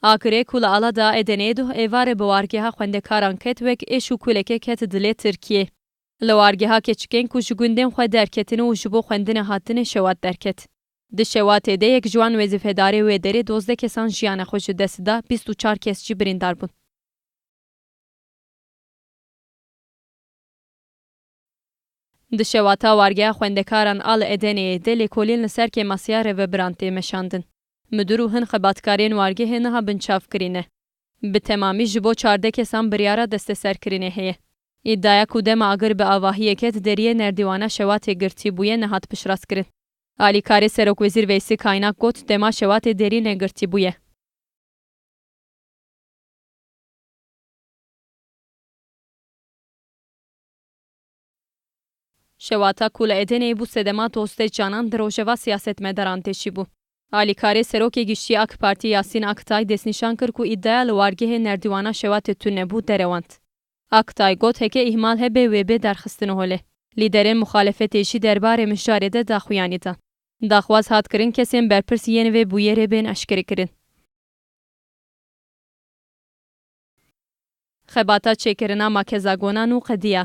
Akirê ku li ala da Edeneyê duh êvarê bi wargeha xwendekaran ket wek êş û kulekek ket dilê Tirkiyê. Li wargeha keçikên ku ji gundên xwe derketin û ji bo xwendinê hatine şewat derket. Di şewatê de yek ji wan wezîfedarê wê derê dozdeh kesan jiyana xwe ji dest da, bîst û çar kes jî birîndar bûn. Di şewa ta wargeha xwendekaran a li Edene'yê dê lêkolîn li ser kêmasiya rêvebiran tê meşandin. Midur û hin xebatkarên wargehê niha binçav kirîne. Bi temamî ji bo çardeh kesan biryara desteserkirinê heye. Îdaya ku dema agir bi avahiyê ket deriyê nerdîwana şewatê girtî bûye nehat piştrastkirin. Alîkarê Serokwezîr Veysi Kaynak got dema şewatê derî negirtî bûye. Şewata ku li Edeneyê bû sedema dozdeh canan di rojeva siyasetmedaran de jî bû. Alîkarê Serokê Giştî AK Partî Yasîn Aktay destnîşan kir ku îdaya li wargehê nerdîwana Şewatê tune nebû derewand. Aktay got heke îhmal hebe wê bê derxistin holê. Lîderên muxalefetê jî derbarê mijarê de daxuyanî dan. Daxwaz hat kirin kesên berpirs yên vê bûyerê bên eşkerekirin. Xebata çêkirina makezagonan û qediya.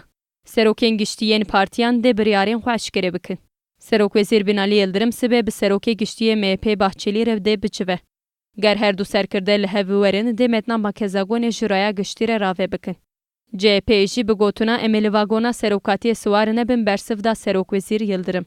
Serokên Giştî yên partiyan dê biryarên xwe eşkere bikin. Serokwezîr Binalî Yildirim sibê bi Serokê Giştî yê MHP'ê Bahçelî re dê biçive. Ger her du serkirde li hev biwerin dê metna makezagonê ji raya giştî re rave bikin. CHP'ê jî bi gotina em ê li vagona serokatiyê siwar nebin bersiv da Serokwezîr Yildirim.